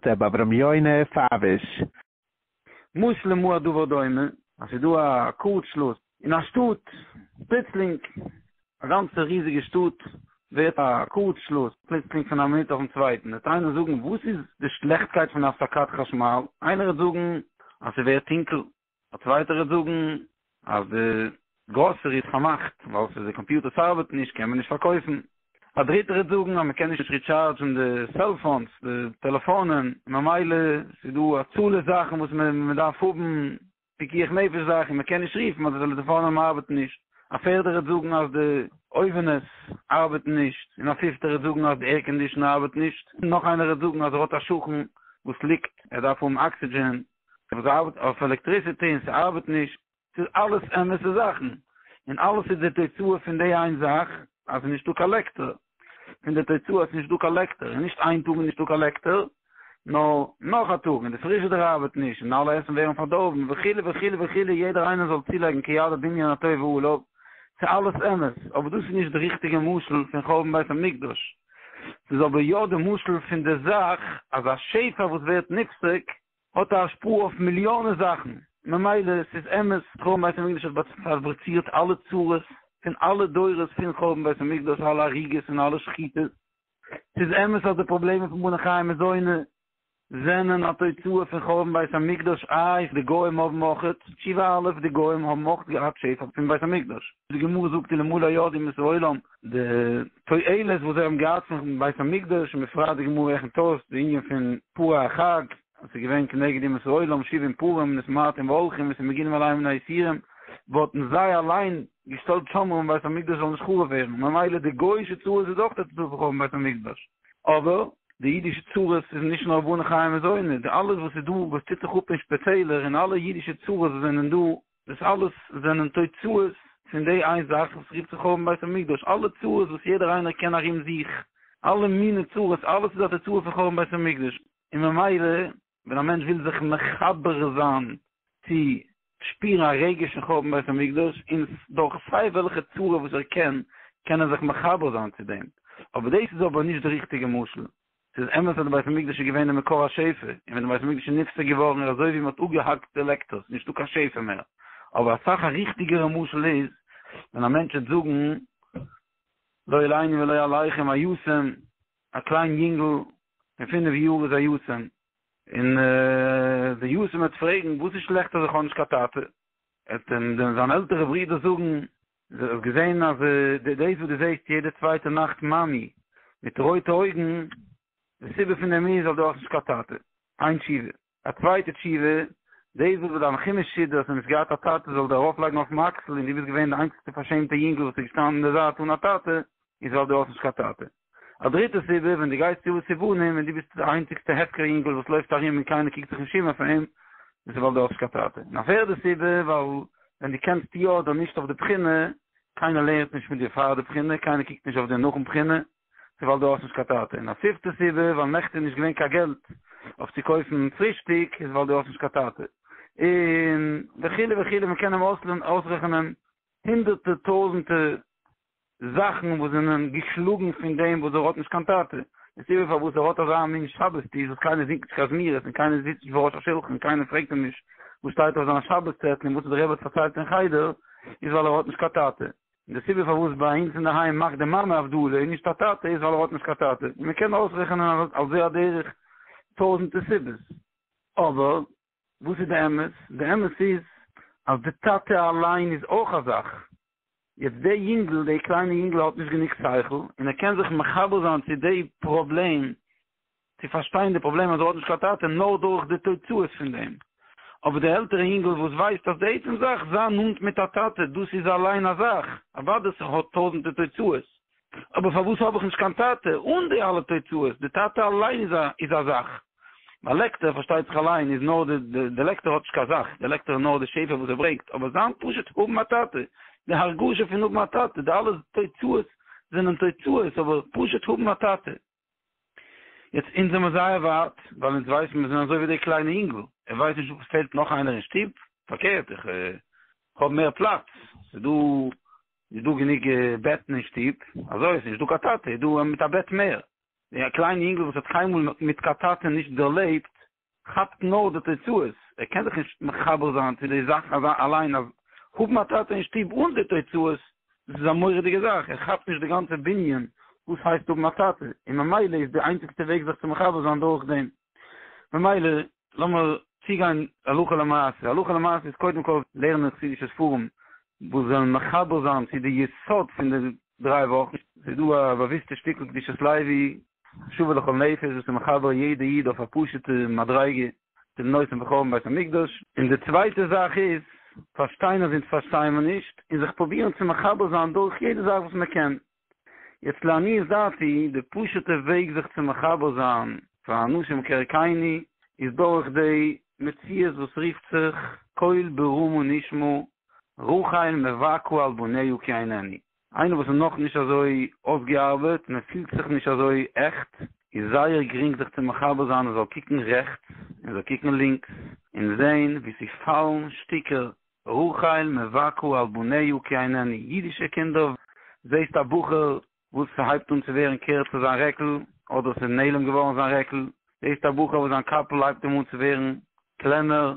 ר' אברהם יונה פאוויש. משל למה הדבר דומה, אז ס'איז דא א קאורט שלאס אין א שטאט, פלוצלינג, א גאנצע ריזיגע שטאט ווערט א קאורט שלאס, פלוצלינג פון א מינוט אויפן צווייטן וועט איינער זאגן וואס איז די שלעכטקייט פון הפסקת חשמל? איינער וועט זאגן אז ס'ווערט טונקל, א צווייטער וועט זאגן אז די גראסערי איז פארמאכט ווייל ס'איז די קאמפיוטער ס'ארבעט נישט קען מען נישט פארקויפן. א דריטער וועט זאגן אז מ'קען נישט ריטשארדזשן די סעלפאונס, די טעלעפאנען, ממילא ס'איז דא א צאל זאכן וואס מ'דארף האבן פיקוח נפש זאכן, מ'קען נישט רופן אז די טעלעפאנען ארבעטן נישט, א פערדער וועט זאגן אז די אויווענעס ארבעטן נישט, און א פיפטער וועט זאגן אז די עירקאנדישאנער ארבעט נישט, נאך איינער וועט זאגן אז ער האט א שכן וואס ליגט ער דארף האבן אקסידזשען, אבער זיי ארבעטן אויף עלעקטריסיטי און ס'ארבעט נישט, ס'איז אלעס אמת'ע זאכן, און אלעס איז די תוצאה פון די איין זאך אז ס'איז נישטא קיין לעקטער, פון די תוצאה אז ס'איז נישטא קיין לעקטער, און נישט איין טאג איז נישטא קיין לעקטער, נאר נאך א טאג, און די פריזשידער ארבעט נישט, און אלע עסן ווערן פארדארבן, וכו' וכו' וכו', יעדער איינער זאל צולייגן כידו בעניינותיו ועליו, ס'אלעס אמת, אבער דאס איז נישט די ריכטיגע משל פון חורבן בית המקדש. ס'איז אבער יא די משל פון די זאך אז א שפע וואס ווערט נפסק האט א השפעה אויף מיליאנען זאכן, ממילא ס'איז אמת חורבן בית המקדש האט פארבריצירט אלע צרות פון אלע דורות פון חורבן בית המקדש אלע הריגות און אלע שחיטות, ס'איז אמת אז די פראבלעמען פון בני חיי מזונות זענען א תוצאה פון חורבן בית המקדש א איז די גוים האבן אויך תשובה א איז די גוים האבן אויך געהאט שפע פון בית המקדש די גמרא זאגט אין למלא ידים את העולם די תועלת וואס זיי האבן געהאט פון בית המקדש און בפרט די גמרא רעכנט אויס די ענין פון פרה החג אז ס'איז געווען כנגד ימות העולם שבעים פרים און סמרטים והולכים און ס'מגינים עליהם מן היסורים וואלטן זיי אליין געשטעלט שומרים בית המקדש זאל נישט חרוב ווערן ממילא די גוי'שע צרות איז אויך א תוצאה פון חורבן בית המקדש. אבער די אידישע צרות איז נישט נאר בונה חיים וזונה, די אלעס וואס איז דא וואס טוט זיך אפ אין שפיטעלער און אלע אידישע צרות וואס זענען דא, דאס אלעס זענען תוצאות פון די איין זאך וואס רופט זיך חורבן בית המקדש, אלע צרות וואס יעדער איינער קען ארום זיך, אלע מיני צרות, אלעס איז א תוצאה פון חורבן בית המקדש, און ממילא ווען א מענטש וויל זיך מחבר זיין צו שפירן א רגש אין חורבן בית המקדש, און דורך סיי וועלכע צורה וואס ער קען, קען ער זיך מחבר זיין צו דעם, אבער דאס איז אבער נישט די ריכטיגע משל. ס'איז אמת אז די בית המקדש איז געווען די מקור השפע, און ווען די בית המקדש איז נפסק געווארן איז אזוי ווי מ'האט אפגעהאקט די לעקטערס, נישטא קיין שפע מער, אבער אסאך א ריכטיגערע משל איז ווען א מענטש וועט זאגן לא עלינו ולא עליכם היו ס'ם, א קליין יונגל פון פינף יאר איז א יתום, און דער יתום וועט פרעגן, וואס איז שלעכט אז איך האב נישט קיין טאטע? וועט אים דען זיין עלטערע ברודער זאגן, דו האסט געזען אז דאס וואס דו זעסט יעדע צווייטע נאכט מאמי מיט רויטע אויגן, די סיבה פון דעם איז ווייל דו האסט נישט קיין טאטע? איין תשובה. א צווייטע תשובה, דאס וואס ביי דיין כינוס שידוך האסטו נישט געהאט א טאטע זאל דיר ארויפלייגן אויפן אקסל און דו ביסט געווען די איינציגסטע פארשעמטע יונגל וואס איז געשטאנען אין די זייט אן א טאטע, איז ווייל דו האסט נישט קיין טאטע. א דריטע סיבה, ווען דו גייסט צו סובונים און דו ביסט די איינציגסטע הפקר יונגל וואס לויפט ארום און קיינער קוקט זיך נישט אום אויף אים, דאס איז ווייל דו האסט נישט קיין טאטע. און א פערדע סיבה, ווייל ווען דו קענסט יא אדער נישט אויף די בחינה, קיינער לערנט נישט מיט דיר פאר די בחינה, קיינער קוקט נישט אויף דיר נאכן בחינה, ס'איז ווייל דו האסט נישט קיין טאטע. און א פיפטע סיבה ווייל נעכטען איז נישט געווען קיין געלט אויף צו קויפן פרישטיג איז ווייל דו האסט נישט קיין טאטע. און וכו' וכו' מען קען אים אויסרעכענען הונדערטע טויזענטע זאכן וואס זענען געשלאגן פון דעם וואס ער האט נישט קיין טאטע. די סיבה פארוואס ער האט אזא מין שבת טיש וואס קיינער זינגט נישט קיין זמירות און קיינער זיצט נישט בראש השולחן קיינער פרעגט אים נישט וואס שטייט אויף זיין שבת צעטל און וואס האט די רבי פארציילט אין חדר איז ווייל ער האט נישט קיין טאטע. און די סיבה פארוואס ביי אונז אינדערהיים מאכט די מאמע הבדלה און נישט א טאטע איז ווייל ער האט נישט קיין טאטע, און מען קען אויסרעכענען על זה הדרך טויזענטע סיבות. אבער וואס איז די אמת? די אמת איז אז די טאטע אליין איז אויך א זאך. יעצט די יונגל, די קליינע יונגל האט נישט גענוג שכל און ער קען זיך מחבר זיין צו די פראבלעם צו פארשטיין די פראבלעם אז ער האט נישט קיין טאטע נאר דורך די תוצאות פון דעם. אבער די עלטערע אינגל וואס ווייסט אז די עצם זאך זיין נאנט מיט א טאטע דאס איז אליין א זאך, אוודאי ס'האט טויזענטע תוצאות, אבער פארוואס האב איך נישט קיין טאטע אן די אלע תוצאות, די טאטע אליין איז א איז א זאך. ביי לעקטער פארשטייט זיך אליין איז נאר די די די לעקטער האט נישט קיין זאך, די לעקטער איז נאר די שפע וואס ער ברענגט, אבער זיין פשוט האבן א טאטע, די הרגשה פון האבן א טאטע, די אלע תוצאות זענען תוצאות, אבער פשוט האבן א טאטע. יעצט אונז זעמער זייער ווייט, ווייל אונז ווייסן מיר זענען אזוי ווי דער קליינער יונגל, ער ווייסט נישט וואס פעלט נאך איינער אין שטוב, פארקערט איך האב מער פלאץ, ס'איז דא איז דא גענוג בעטן אין שטוב, אזוי איז נישט דא קיין טאטע, איז דא מיט א בעט מער, דער קליינער יונגל וואס האט קיינמאל מיט קיין טאטע נישט דערלעבט, כאפט נאר די תוצאות, ער קען זיך נישט מחבר זיין צו די זאך אליין אז האבן א טאטע אין שטוב אן די תוצאות דאס איז א מורא'דיגע זאך, ער כאפט נישט די גאנצע בנין וואס הייסט האבן א טאטע, און ממילא איז די איינציגסטע וועג זיך צו מחבר זיין דורך דעם. ממילא לאמיר צוגיין הלכה למעשה, הלכה למעשה איז קודם כל לערנען חסידישע ספרים וואס וועלן מחבר זיין צו די יסוד פון די דריי וואכן, ס'איז דא א באוויסטע שטיקל קדושת לוי שווה לכל נפש וואס איז מחבר יעדע איד אויף א פשוטע מדריגה צו די נושא פון חורבן בית המקדש, און די צווייטע זאך איז פארשטיין אז אונז פארשטייען מיר נישט און זיך פרובירן צו מחבר זיין דורך יעדע זאך וואס מען קען, יעצט לעניות דעתי די פשוטע וועג זיך צו מחבר זיין פאר אנשים כערכינו איז דורך די מציאות וואס רופט זיך קול ברום ונשמע רחל מבכה על בניה כי ענני. איינער וואס איז נאך נישט אזוי אויסגעארבעט און ער פילט זיך נישט אזוי עכט, איז זייער גרינג זיך צו מחבר זיין ער זאל קוקן רעכטס און ער זאל קוקן לינקס און זעהן ווי ס'פאלן שטיקער רחל מבכה על בניה כי ענני אידישע קינדער זעהסט א בחור וואס ס'הייבט אן צו ווערן קערצער זיין רעקל אדער ס'איז נעלם געווארן זיין רעקל זעהסט א בחור וואס זיין קאפל הייבט אים אן צו ווערן קלענער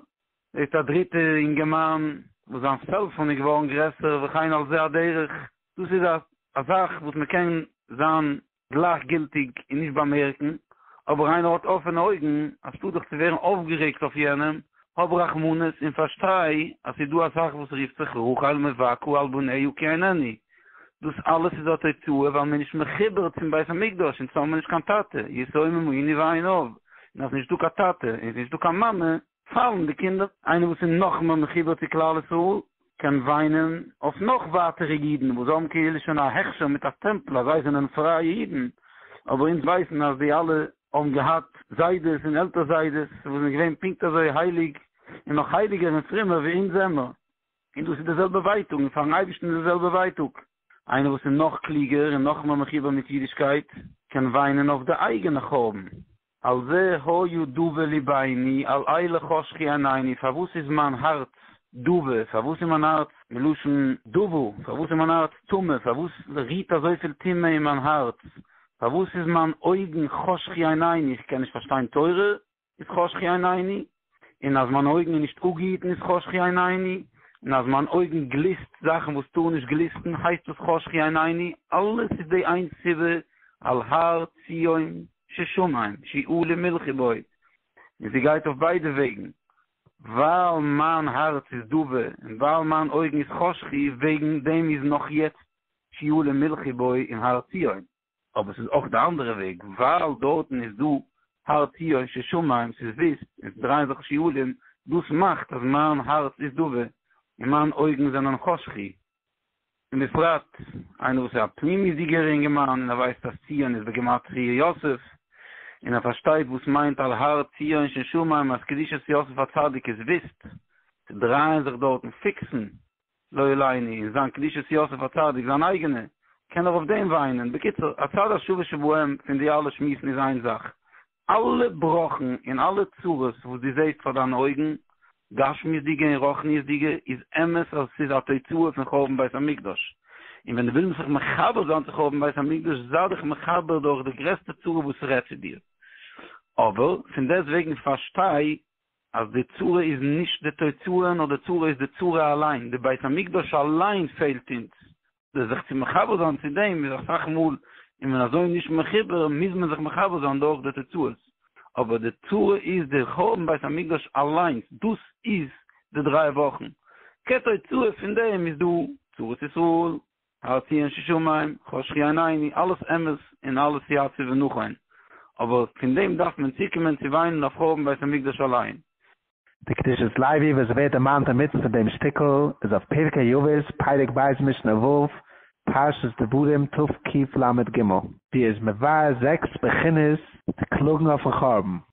זעט א דריטע אינגערמאן וואס זיין סעלפאן איז געווארן גרעסער וכן על זה הדרך, דאס איז א זאך וואס מען קען זיין גלייכגילטיג און נישט באמערקן, אבער איינער האט אפענע אויגן, אנשטאט זיך צו ווערן אויפגערעגט אויף יענעם, האב רחמנות און פארשטיי אז ס'איז דא א זאך וואס רופט זיך רחל מבכה על בניה כי אינני, דאס אלעס איז א תוצאה ווייל מען איז נישט מחובר צום בית המקדש און צו האבן נישט קיין טאטע, יתומים הוא עני ואין אב, און אז נישט דא קיין טאטע און ס'נישט דא קיין מאמע, פאלן די קינדער. איינער וואס איז נאכמער מחובר צו כלל ישראל קען וויינען אויף נאך ווייטערע אידן וואס זיי האבן כאילו שוין א הכשר מיט א סטעמפל אז זיי זענען פרייע אידן, אבער אונז ווייסן אז די אלע האבן געהאט זיידעס און עלטער זיידעס וואס זענען געווען פונקט אזוי הייליג און נאך הייליגער און פרומער ווי אונז זעמער, און דאס איז די זעלבע ווייטאג און פארן אייבערשטן איז די זעלבע ווייטאג. איינער וואס איז נאך קלוגער און נאכמער מחובר מיט אידישקייט קען וויינען אויף די אייגענע חורבן. על זה היה דובה לי בעיני, על אלה חשכי עיניני, פארוואס איז מיין הארץ דובה, פארוואס איז מיין הארץ, מלשון דובו, פארוואס איז מיין הארץ טמא, פארוואס רוהט אזויפיל טומאה אין מיין הארץ, פארוואס איז מיין אויגן חשכי עיניני, איך קען נישט פארשטיין תורה, איז חשכי עיניני, און אז מיינע אויגן איז נישט אגעהיטן איז חשכי עיניני, און אז מיין אויגן גליסט זאכן וואס טארן נישט גליסטן הייסט דאס חשכי עיניני, אלעס איז די איין סיבה על הר ציון ששמים שיעלה מלכי בו, און זי גייט אויף ביידע וועגן, ווייל מיין הארץ איז דאבה און ווייל מיין אויגן איז חשכי וועגן דעם איז נאך יעצט שיעלה מלכי בו און הר ציון. אבער ס'איז אויך די אנדערע וועג, ווייל דארטן איז דא הר ציון ששמים, ס'איז וויסט און ס'דרייען זיך שיעולים, דאס מאכט אז מיין הארץ איז דאבע און מיין אויגן זענען חשכי, און בפרט איינער וואס איז א פנימיות'דיגער אינגערמאן און ער ווייסט אז ציון איז בגימטריא יוסף, און ער פארשטייט וואס מיינט על הר ציון ששמים אז קדושת יוסף הצדיק איז וויסט, ס'דרייען זיך דארטן פיקסן לא עליני, און זיין קדושת יוסף הצדיק, זיין אייגענע, קען ער אויף דעם וויינען, בקיצור, הצד השווה שבהם פון די אלע שמועסן איז איין זאך, אלע בראכן און אלע צרות וואס דו זעסט פאר דיינע אויגן, גשמיות'דיגע און רוחניות'דיגע, איז אמת אז עס איז א תוצאה פון חורבן בית המקדש, און ווען דו ווילסט זיך מחבר זיין צו חורבן בית המקדש, זיי דיך מחבר דורך די גרעסטע צרה וואס רעדט צו דיר, אבער פון דעסט וועגן פארשטיי אז די צרה איז נישט די תוצאה נאר די צרה איז די צרה אליין, די בית המקדש אליין פעלט אונז, די זיך צו מחבר זיין צו דעם איז אסאך מאל איז מען אזוי נישט מחובר מוז מען זיך מחבר זיין דורך די תוצאות, אבער די צרה איז די חורבן בית המקדש אליינס, דאס איז די דריי וואכן, כתוצאה פון דעם איז דא צרת ישראל, הארצי אין ששומעים, חשכי עיניני, אלעס אמת און אלעס יציב און נכון, אבער פון דעם דארף מען צוקומען צו וויינען אויף חורבן בית המקדש אליין. די קדושת לוי וואס ווערט דערמאנט אינמיטן פון דעם שטיקל איז אויף פרקי יובש, פרק ב' משנה ו', פרשת דברים תקל ג. זי איז מבאר זעקס בחינות די קלאגן אויפן חורבן.